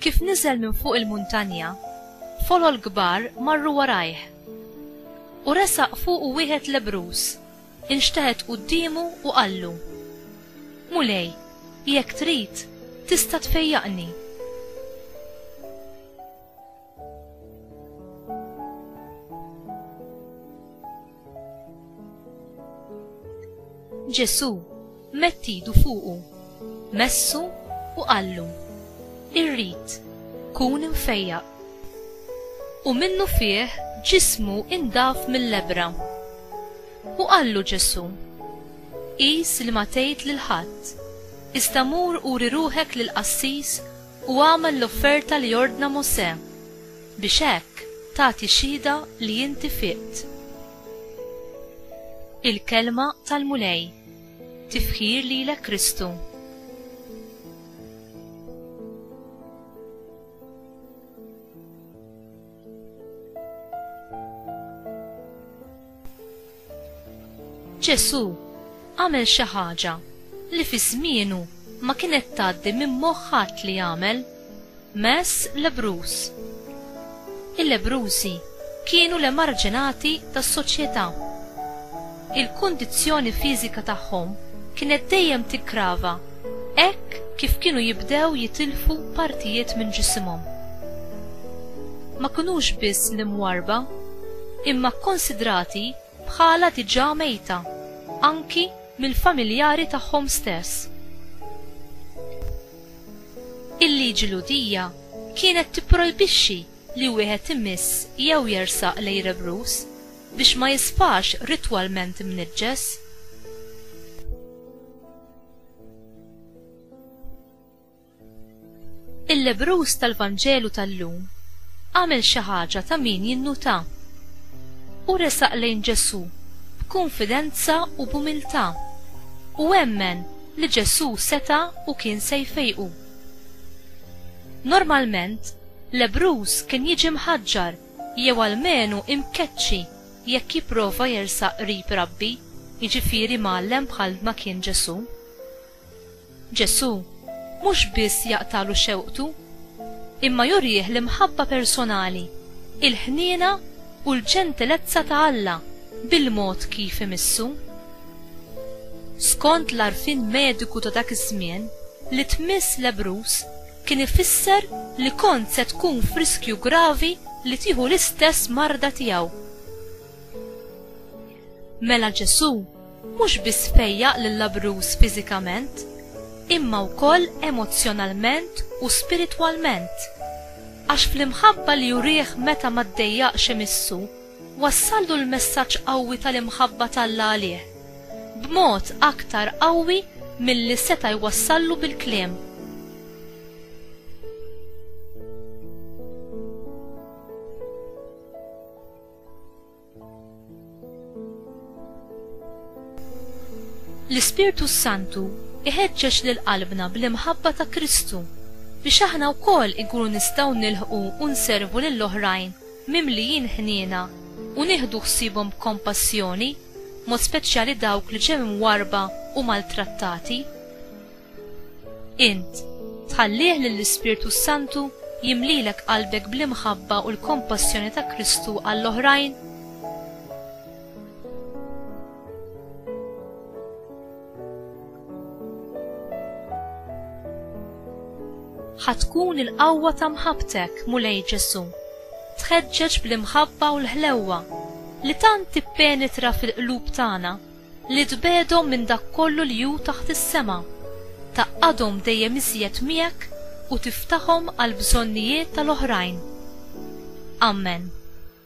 Kif niżel minn fuq il-muntanja, folol kbar marru warajh. U resaq fuqu wieħed lebbruż, inxteħet quddiemu u qallu, Mulej, jekk trid, tista' tfejjaqni. Ġesù mett idu fuqu, messu u qallu, Irrid, kun imfejjaq. U minnu fih ġismu indaf mill-lebbra. U qallu Ġesù, Qis li ma tgħid lil ħadd, iżda mur uri ruħek lill-qassis u agħmel l-offerta li ordna Mosè. biex hekk tagħti xhieda li inti fiqt. Il-Kelma tal-Mulej, Tifħir lilek Kristu. Ġesù għamel xi ħaġa li fi żmienu ma kienet tgħaddi minn moħħ ħadd li jagħmel, mess lebruż. Il-lebrużi kienu l-emarġinati tas-soċjetà. Il-kundizzjoni fiżika tagħhom kienet dejjem tiggrava Hekk kif kienu jibdew jitilfu partijiet minn ġisimhom. Ma kinux biss l-imwarrba, imma kkonsidrati bħala diġà mejta anki mill-familjari tagħhom stess. Il-liġi Lhudija kienet tipprojbixxi li wieħed imiss jew jersaq lejn rebruż biex ma jisfax ritwalment imniġġes. Il-lebrus tal-Vanġelu tal-lum għamel xi ħaġa ta' min jinnuta. U resaq lejn Ġesù b'kunfidenza u b'umiltà u emmen li Ġesù seta' u kien se jfejqu. Normalment, lebrus kien jiġi mħaġġar jew almenu imkeċċi Jekk jipprova jersaq qrib Rabbi, jiġifieri mgħallem bħal ma kien Ġesù. Ġesù mhux biss jaqtagħlu xewqtu, imma jurih l-imħabba personali, il-ħniena u l-ġentilezza ta' Alla bil-mod kif imissu. Skont l-għarfien mediku ta' dak iż-żmien, li tmiss lebbruż kien ifisser li kont se tkun f'riskju gravi li tieħu l-istess marda tiegħu. Mela Ġesù mhux biss fejjaq lill-abruż fiżikament, imma wkoll emozzjonalment u spiritwalment, għax fl-imħabba li jurih meta ma ddejjaqx imissu, Wassallu l-messaġġ qawwi tal-imħabba t'Alla għalih, b'mod aktar qawwi milli seta' jwassallu bil-kliem. L-Ispirtu s-Santu jħeġġeġ lil qalbna bl-imħabba ta' Kristu biex aħna wkoll inkunu nistgħu nilħqu u nservu lill-oħrajn mimlijin ħniena u nieħdu ħsiebhom b'kompassjoni, b'mod speċjali dawk li ġew imwarrba u maltrattati. Int, tħallih lill-Ispirtu s-Santu jimlilek qalbek bl-imħabba u l-kompassjoni ta' Kristu għall-oħrajn? Ħa tkun il-qawwa ta' mħabbtek, Mulej Ġesù, tħeġġeġ bl-imħabba u l-ħlewwa li tant tippenetra fil-qlub tagħna li tbegħdhom minn dak kollu li hu taħt is-sema, tgħaqqadhom dejjem iżjed miegħek u tiftaħhom għall-bżonnijiet tal-oħrajn. Amen.